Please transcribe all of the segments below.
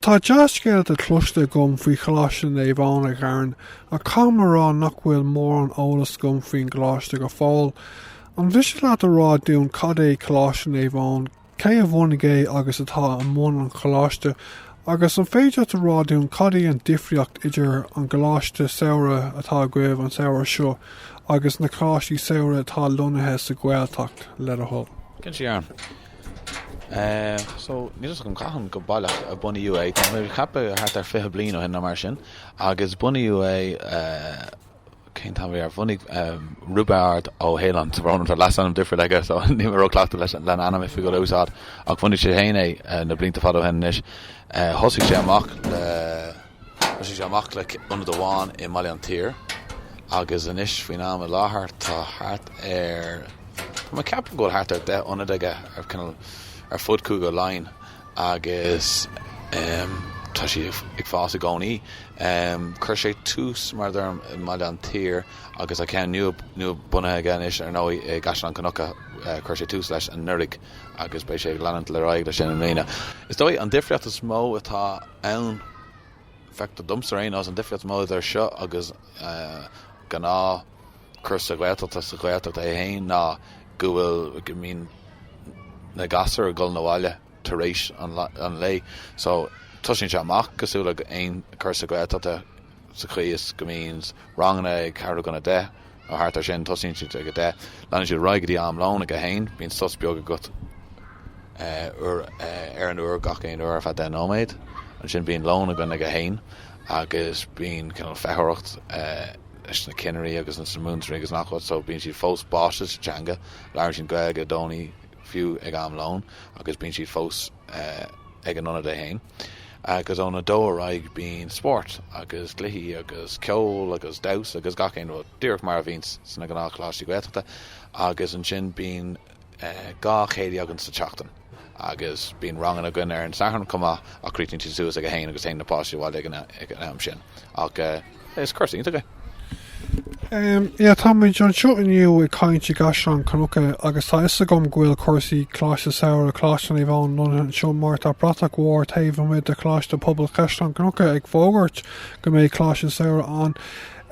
Tá dea-scéalta cloiste agam faoi Choláiste Naomh Eoin a Fhearn, ach caithfidh mé a rá nach bhfuil mórán eolais agam faoin gcoláiste go fóill. An mhiste leat a rá dúinn cad é Coláiste Naomh Eoin, cé a bhunaigh é agus atá i mbun an choláiste, agus an féidir leat a rá dúinn cad é an difríocht idir an gcoláiste samhraidh atá agaibh an samhradh seo agus na coláistí samhraidh atá lonnaithe sa Ghaeltacht, le do thoil? Cinnte, a Fhearn. so níl fhios agam cathain go baileach a bunaíodh é, tá mé ag ceapadh thart ar fiche bliain ó shin nó mar sin agus bunaíodh é, cén t-ainm a bhí air, bhunaigh Roibeárd Ó hAoláin, so mar tá leasainm difriúil aige so níl mé róchleachta leis an ainm oifigiúil a úsáid ach bhunaigh sé fhéin é na blianta fada ó shin anois, thosaigh sé amach le. Thosaigh sé amach le ionad amháin i mBaile an tSaoir agus anois faoin am i láthair tá thart ar, bhuel ceapaim go bhfuil thart ar 10 ionad aige like you know ar fud Chúige Laighean agus tá sé ag fás i gcónaí. Chuir sé tús mar a deirim i mBaile an tSaoir agus tá ceann nua bunaithe aige anois ar ndóigh i gCaisleán Cnucha, chuir sé tús leis anuraidh. agus beidh sé ag leanúint ar aghaidh leis sin i mbliana. Is dóigh an difríocht is mó atá ann, feictear domsa ar aon nós, an difríocht is mó idir seo agus gnáthchúrsa Gaeltachta sa Ghaeltacht í féin ná go bhfuil, go mbíonn na gasúir ag dul abhaile tar éis an lae so tosaíonn sé amach cosúil le aon chúrsa Gaeltachta sa chaoi is go mbíonns ranganna ag ceathrú chun a deich, Nó thart air sin. Tosaíonn siad ag a deich, leanann siad ar aghaidh go dtí am lóin ag a haon. Bíonn sos beag agat ar an uair, gach aon uair ar feadh deich nóiméad. Ansin bíonn lón againne ag a haon agus bíonn cineál feitheoireacht leis na cinnirí agus leis na múinteoirí agus 'chaon áit, so bíonn siad fós báite sa teanga, labhraíonn siad Gaeilge i gcónaí. fiú ag am lóin agus bíonn siad fós ag an ionad é fhéin agus ón a dó ar aghaidh bíonn spórt agus cluichí agus ceol agus damhsa agus gach aon rud, díreach mar a bhíonns sna gnáthcholáistí Gaeltachta agus ansin bíonn dhá chéilí againn sa tseachtain agus bíonn ranganna againn ar an Satharn chomh maith ach críochnaíonn siad suas ag a haon agus téann na páistí abhaile ag an am sin ach Is cúrsa iontach é. Sea, tá muid anseo inniu ag caint i gCaisleán Cnucha agus tá fhios agam go bhfuil cúrsaí Coláiste Samhraidh, Coláiste Naomh Eoin, lonnaithe anseo mar tá bratach mhór taobh amuigh de Choláiste Pobail Chaisleán Cnucha ag fógairt go mbeidh Coláiste Samhraidh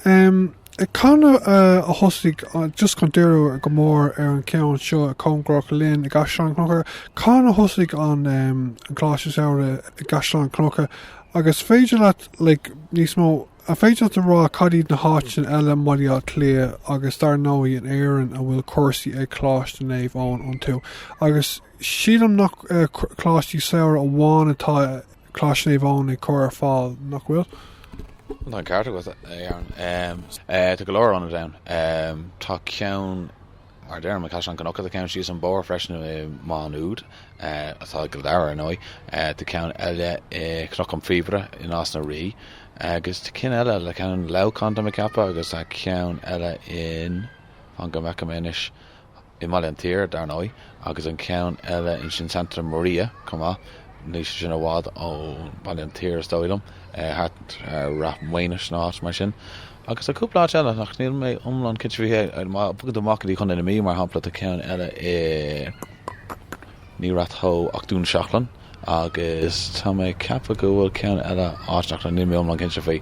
ann. Cathain a thosaigh, just chun díriú go mór ar an cheann seo, cóngarach linn i gCaisleán Cnucha, cathain a thosaigh an Coláiste Samhraidh i gCaisleán Cnucha agus is féidir leat, like, níos mó, an féidir leat a rá cad iad na háiteanna eile i mBaile Átha Cliath agus dar ndóigh in Éirinn a bhfuil cúrsaí ag Coláiste Naomh Eoin iontu agus sílim nach coláistí samhraidh amháin atá Coláiste Naomh Eoin ag cur ar fáil nach bhfuil? Tá an ceart agat. Tá go leor ionad ann. Tá ceann Mar a deirim, i gCaisleán Cnucha tá ceann síos an bóthar freisin i Maigh Nuad, atá i gCill Dara ar ndóigh, tá ceann eile i gCnoc an Phíobaire i Nás na Rí agus tá cinn eile, like, ceann i Leamhcán tá mé ag ceapadh agus tá ceann eile in, fan go bhfeicfidh mé anois, i mBaile an tSaoir dar ndóigh agus an ceann eile in sin Santa Maria chomh maith, níl sé sin i bhfad ó Bhaile an tSaoir is dóigh liom, thart ar Ráth Maonais nó áit mar sin. Agus tá cúpla áit eile, ach níl mé iomlán cinnte faoi chéard, má thagann tú amach go dtí Chontae na Mí, mar shampla, tá ceann eile i, ní Ráth Tó, ach Dún Seachlainn, agus tá mé ag ceapadh go bhfuil ceann eile áit ach, níl mé iomlán cinnte faoi.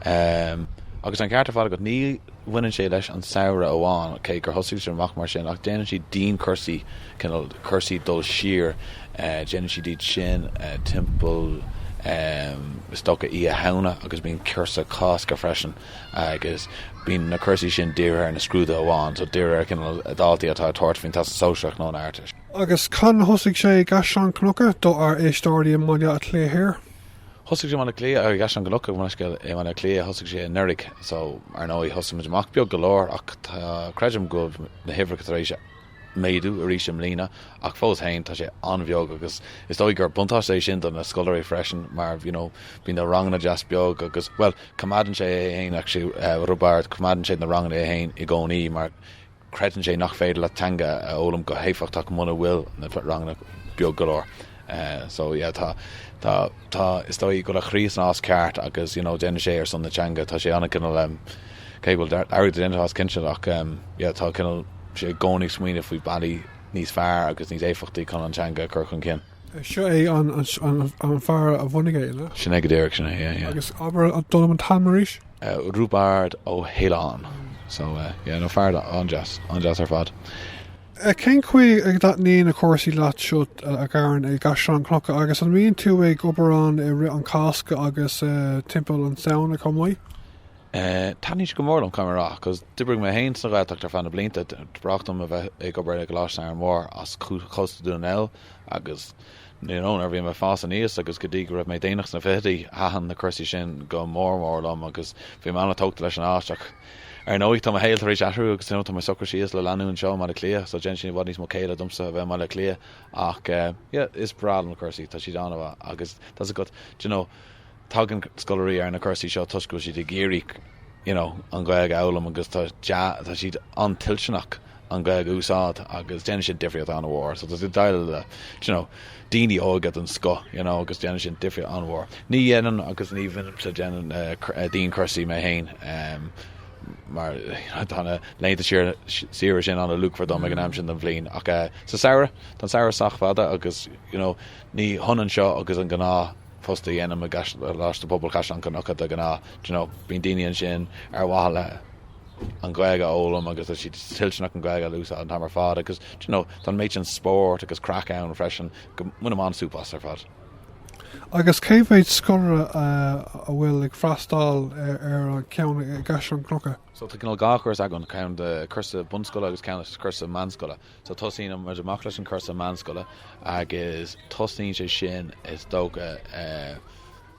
Agus tá an ceart ar fad agat, ní bhaineann sé leis an samhradh amháin, cé gur thosaigh siad amach mar sin, ach déanann siad dianchúrsaí, cineál cúrsaí dul siar. Déanann siad iad sin timpeall, is dócha, Oíche Shamhna agus bíonn cúrsa Cásca freisin agus bíonn na cúrsaí sin dírithe ar na scrúduithe amháin, so dírithe ar cineál daltaí atá ag tabhairt faoin Teastas Sóisearach nó an Ardteist. Agus cathain a thosaigh sé i gCaisleán Cnucha, dár n-éisteoirí i mBaile Átha Cliath Thiar? Thosaigh sé i mBaile Átha Cliath, i gCaisleán Cnucha, gabh mo leithscéal, i mBaile Átha Cliath, thosaigh sé anuraidh, so, ar ndóigh, thosaigh muid amach beag go leor ach tá, creidim go bhfuil na huimhreacha tar éis a, méadú arís i mbliana ach fós féin tá sé an-bheag agus is dóigh gur buntáiste é sin do na scoláirí freisin mar you know bíonn na ranganna deas beag agus bhuel coimeádann sé é féin actually uh, Roibeárd coimeádann sé na ranganna é féin i gcónaí mar creideann sé nach féidir leat teanga a fhoghlaim go héifeachtach muna bhfuil na ranganna beag go leor. So yeah tá tá tá is dóigh go bhfuil a chroí san áit cheart agus you know déanann sé ar son na teanga. Tá sé ana cineál em cé go bhfuil airgead á dhéanamh as cinnte ach em yeah tá cineál sé i gcónaí ag smaoineamh faoi bealaí níos fearr agus níos éifeachtaí chun an teanga a chur chun cinn. Seo é an an an fear a bhunaigh é, na? Sin é go díreach, sin é, yeah yeah. Agus abair dom an t-ainm arís? Eh Roibeárd Ó hAoláin. So eh yeah no, fear an-deas, an-deas ar fad. Cén chaoi a dtaitníonn na cúrsaí leat seo a Karen i gCaisleán Cnucha agus an mbíonn tú ag obair ann i rith an Cásca agus timpeall an Samhna chomh maith? Eh, taitníonn sé go mór liom, caithfidh mé a rá, agus d'oibrigh mé féin sa Ghaeltacht ar feadh na blianta. Ba ghnách liom a bheith ag obair i gColáiste Árainn Mhóir as cósta Dhún na nGall agus Níorbh ann, nuair a bhí mé ag fás aníos agus go dtí go raibh mé déanach sna fichidí, thaitin na cúrsaí sin go mór mór liom agus bhí mé an-tógtha leis an áit. Ach, ar ndóigh, tá mo shaol tar éis athrú agus tá mé socraithe síos le leanúint anseo i mBaile Átha Cliath, so déanann sé i bhfad níos mó céille domsa a bheith i mBaile Átha Cliath ach, yeah, is breá liom na cúrsaí, tá siad an-mhaith agus, tá a fhios agat, d'you know, Tagann scoláirí ar na cúrsaí seo toisc go bhfuil siad ag iarraidh, you know, an Ghaeilge a fhoghlaim agus tá tá siad an-toilteanach an Ghaeilge a úsáid agus déanann siad difríocht an-mhór. So tá siad ag déileáil le, d'you know, daoine óga den scoth, you know, agus déanann siad difríocht an-mhór. Ní dhéanaim agus ní bhímse ag déanamh dianchúrsaí mé féin em mar tá na laethanta siar saoire sin an-luachmhar dom ag an am sin den bhliain ach eh sa samhradh tá an samhradh sách fada agus, you know, ní hionann seo agus an gnáth. post a dhéanaim i gColáiste Pobail Chaisleán Cnucha de ghnáth. Do you know, bíonn daoine ansin ar mhaithe le an Ghaeilge a fhoghlaim agus tá siad toilteanach an Ghaeilge a úsáid an t-am ar fad agus, do you know, tá an méid sin spóirt agus craic ann freisin go mbainim an-súp as ar fad. Agus cé mhéid scoláire a bhfuil ag freastal ar an cheann i gCaisleán Cnucha? So tá cineál dhá chúrsa againn, ceann de chúrsa bunscoile agus ceann de chúrsa meánscoile. So tosaíonn muid amach leis an cúrsa meánscoile agus tosnaíonn sé sin is dócha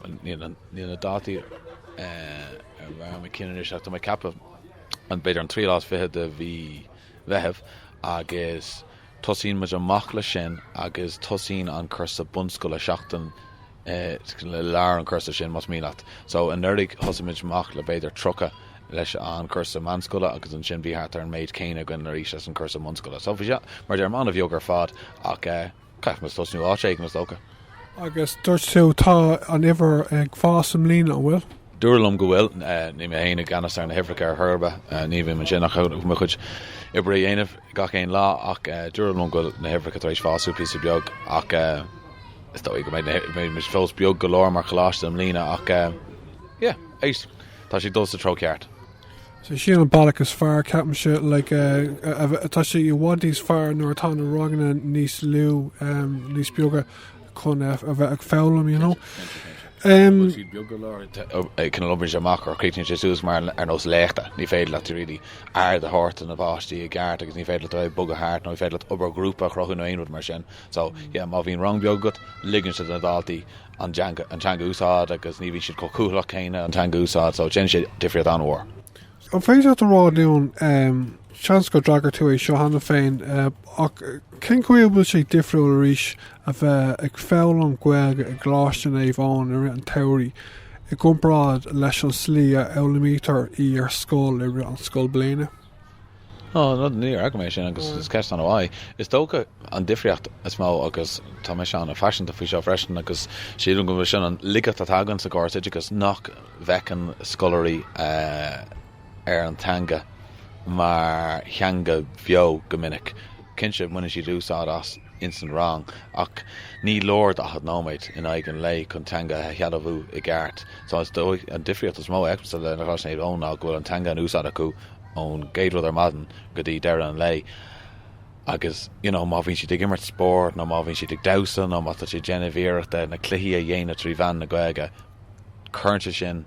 bhuel níl an níl na dátaí ar bharr mo chinn anois ach tá mé ag ceapadh an b'fhéidir an tríú lá is fiche de mhí Mheithimh agus tosaíonn muid amach leis sin agus tosaíonn an cúrsa bunscoile seachtain i lár an chúrsa sin más mian leat. So anuraidh thosaigh muid amach le b'fhéidir 30 leis an cúrsa meánscoile agus ansin bhí thart ar an méid céanna againn arís leis an cúrsa bunscoile. So bhí sé, mar a deirim, an-bheag ar fad ach eh caithfidh muid tosnú áit éigin is dócha. Agus dúirt tú tá an uimhir ag fás i mbliana, an bhfuil? Dúradh liom go bhfuil, eh, ní mé féin i gceannas ar na huimhreacha ar chor ar bith, eh, ní bhím ansin ach mo chuid oibre a dhéanamh. gach aon lá ach dúradh liom go bhfuil na huimhreacha tar éis fású píosa beag ach is dóigh go mbeidh muid fós beag go leor mar choláiste i mbliana ach yeah tá siad ag dul sa treo ceart. So sin an bealach is fearr ceapaimse like tá sé i bhfad níos fearr nuair atá na ranganna níos lú níos beaga. chun a bheith ag foghlaim, you know. An bhfuil siad beag go leor ag cineál oibrigh sé amach or críochnaíonn sé suas mar ar nós léachta, ní féidir leat really aird a thabhairt do na páistí i gceart agus ní féidir leat a bheith ag bogadh thart nó ní féidir leat obair ghrúpa a chruthú nó aon rud mar sin. So, yeah, má bhíonn rang beag agat, ligeann sé do na daltaí an teanga an teanga a úsáid agus ní bhíonn siad chomh cúthalach céanna an teanga a úsáid so déanann sé difríocht an-mhór. An féidir leat a rá dúinn, seans gur d'fhreagair tú é seo cheana féin, ach cén chaoi a bhfuil sé difriúil arís a bheith ag foghlaim Gaeilge i gColáiste Naomh Eoin i rith an tsamhraidh i gcomparáid leis an tslí a fhoghlaimítear í ar scoil i rith an scoilbhliana? Ó, no, níor fhreagair mé sin agus is ceist an-mhaith. Is dócha, an difríocht is mó, agus tá mise an-phaiseanta faoi seo freisin agus sílim go bhfuil sin an laigeacht atá againn sa gcóras oideachais, nach, bhfeiceann scoláirí ar an teanga mar theanga bheo go minic. Cinnte, baineann siad úsáid as ins an rang ach ní leor 40 nóiméad in aghaidh an lae chun teanga a shealbhú i gceart. So is dóigh, an difríocht is mó a fheicimse le Coláiste Naomh Eoin ná go bhfuil an teanga in úsáid acu ón gcéad rud ar maidin go dtí deireadh an lae agus you know má bhíonn siad ag imirt spóirt nó má bhíonn siad ag damhsa nó má tá siad ag déanamh iarrachta na cluichí a dhéanamh trí mheán na Gaeilge. Cuireann sé sin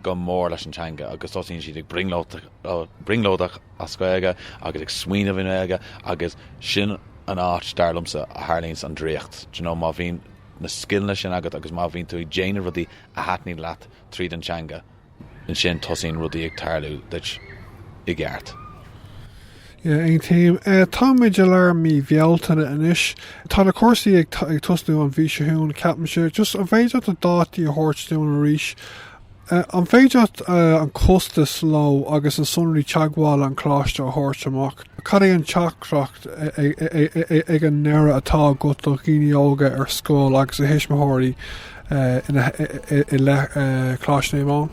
go mór leis an teanga agus tosaíonn siad ag brionglóideach as Gaeilge agus ag smaoineamh i nGaeilge agus sin an áit, dar liomsa, a tharlaíonns an draíocht. Do you know, má bhíonn na scileanna sin agat agus má bhíonn tú ag déanamh rudaí a thaitníonn leat tríd an teanga, ansin tosaíonn rudaí ag tarlú duit i gceart. Yeah, aon taom. Eh, táimid i lár mí Bhealtaine anois. Tá na cúrsaí ag t-ag tosnú an mhí seo chugainn, ceapaimse. Just, an féidir leat na dátaí a thabhairt dúinn arís? Eh, an féidir leat, eh, an costas leo agus an sonraí teagmhála an coláiste a thabhairt amach? Cad é an teachtaireacht a-a-a-a-a-ag an ndeireadh atá agat do dhaoine óga ar scoil agus a thuismitheoirí, eh, ina h-i-i-i leith, eh, Coláiste Naomh Eoin?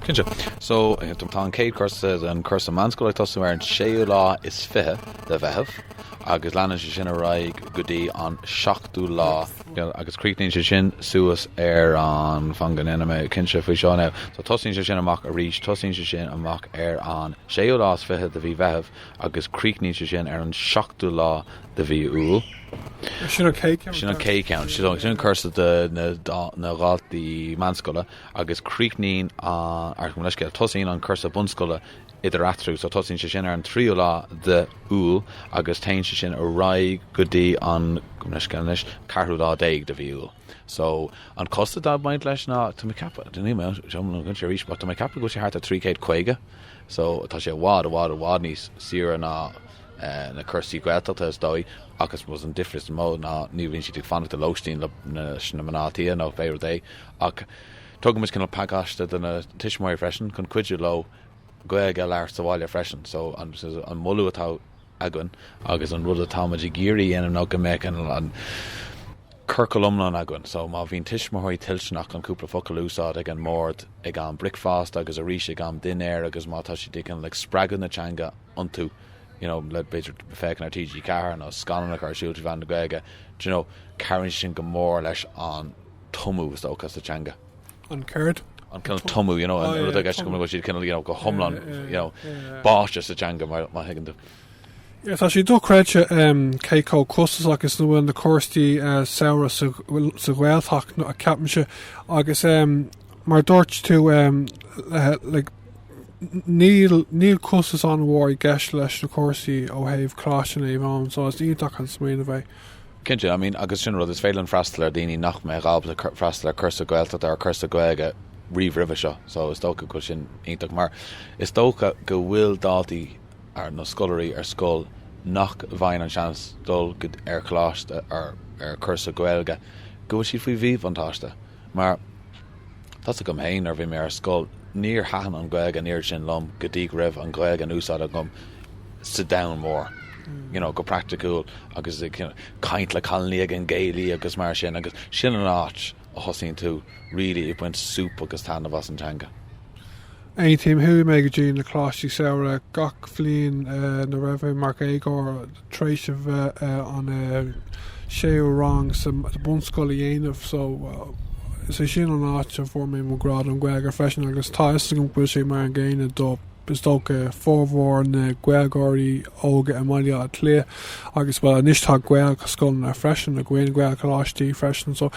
Cinnte. So, tá an chéad cúrsa, an cúrsa meánscoile ag tosú ar an séú lá is fiche de Mheitheamh agus leanann sé sin ar aghaidh go dtí an seachtú lá agus críochnaíonn sé sin suas ar an, fan go ndéanfaidh mé cinnte faoi seo now, so tosaíonn sé sin amach arís, tosaíonn sé sin amach ar an séú lá is fiche de mhí Mheitheamh agus críochnaíonn sé sin ar an seachtú lá de mhí Iúil. Sin an chéad cheann. Sin an chéad cheann. Sin an cúrsa do na dhaltaí meánscoile agus críochnaíonn an, ar, gabh mo leithscéal, tosaíonn an cúrsa bunscoile eatarthu, so tosaíonn sé sin ar an tríú lá de Iúil agus téann sé sin ar aghaidh go dtí an, gabh mo leithscéal anois, ceathrú lá déag de mhí Iúil. So, an costas atá ag baint leis ná, tá mé ag ceapadh, níl mé, seo ná cuimse arís, but tá mé ag ceapadh go bhfuil sé thart ar trí chéad caoga. So, tá sé i bhfad, i bhfad, i bhfad níos saoire ná na cúrsaí Gaeltachta is dóigh, ach I suppose an difríocht is mó ná níl, bíonn siad ag fanacht i lóistín le leis na mná tí nó pé rud é, ach tugaimid cineál pacáiste do na tuismitheoirí freisin chun cuidiú leo Gaeilge a labhairt sa bhaile freisin. So, an moladh atá againn agus an rud atáimid ag iarraidh a dhéanamh ná go mbeadh an ciorcal iomlán againn. So má bhíonn tuismitheoirí toilteanach chun cúpla focal a úsáid ag an mbord ag am bricfeasta agus arís ag am dinnéir agus má tá siad ag cineál ag spreagadh na teanga iontu, you know, le b'fhéidir féachaint ar TG4 nó scannáin a chur ar siúl trí mheán na Gaeilge, do you know, cabhraíonn sé sin go mór leis an tumadh is dócha sa teanga. an ceart. an cineál tumadh, you know, an rud i gceist go bhfuil siad cineál, you know, go hiomlán, you know, báite sa teanga mar mar thuigeann tú. Yeah, tá sé dochreidte um, cé chomh costasach is a bhfuil na cúrsaí uh, eh, samhraidh sa, sa Ghaeltacht no, a ceapimse agus um, mar dúirt tú um, uh, like, Níl níl costas an-mhór i gceist leis na cúrsaí ó thaobh Coláiste Naomh Eoin, so is iontach an smaoineamh é. Cinnte, I mean agus sin rud, is féidir linn freastal ar daoine nach mbeadh ábalta freastal ar cúrsa Gaeltachta or cúrsa Gaeilge riamh roimhe seo so is dócha go bhfuil sin iontach mar is dócha go bhfuil daltaí ar nó scoláirí ar scoil nach bhfaigheann an seans dul go ar choláiste or ar cúrsa Gaeilge go bhfuil siad faoi mhíbhuntáiste. Mar tá a fhios agam féin, nuair a bhí mé ar scoil, níor thaitin an Ghaeilge an oiread sin liom go dtí go raibh an Ghaeilge in úsáid agam sa domhan mór, you know, go praiticiúil agus ag caint le cailiní ag an gcéilí agus mar sin agus sin an áit a thosaíonn tú really ag baint súp agus taitneamh as an teanga. Aontaím, chuaigh mé go dtí na Coláistí Samhraidh gach bliain nuair a raibh mé mar dhéagóir, tar éis an séú rang sa bunscoil a dhéanamh so is é sin an áit a bhfuair mé mo ghrá don Ghaeilge freisin agus tá 'fhios agam go bhfuil sé mar an gcéanna do, is dócha, formhór na Gaeilgeoirí óga i mBaile Átha Cliath agus, bhuel, anois tá Gaelscoileanna freisin againn, Gaelcholáistí freisin so.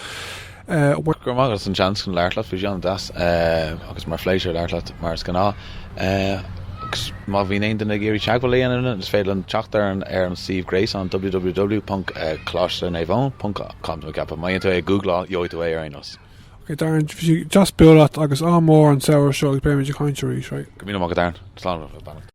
Go raibh maith agat as an seans chun labhairt leat faoi seo. An-deas agus mar phléisiúr labhairt leat mar is gnáth. Agus má bhíonn aon duine ag iarraidh teagmháil a dhéanamh linn is féidir teacht ar an ar an suíomh gréasáin www.coláiste naomh eoin ponc com nó ceapaim má dhéanann tú é ag googláil gheobhaidh tú é ar aon nós. Ok Darren, bhí sé deas bualadh leat agus ádh mór ort an samhradh seo agus beimid ag caint arís, right? Go míle maith agat Darren. Slán agus beannacht.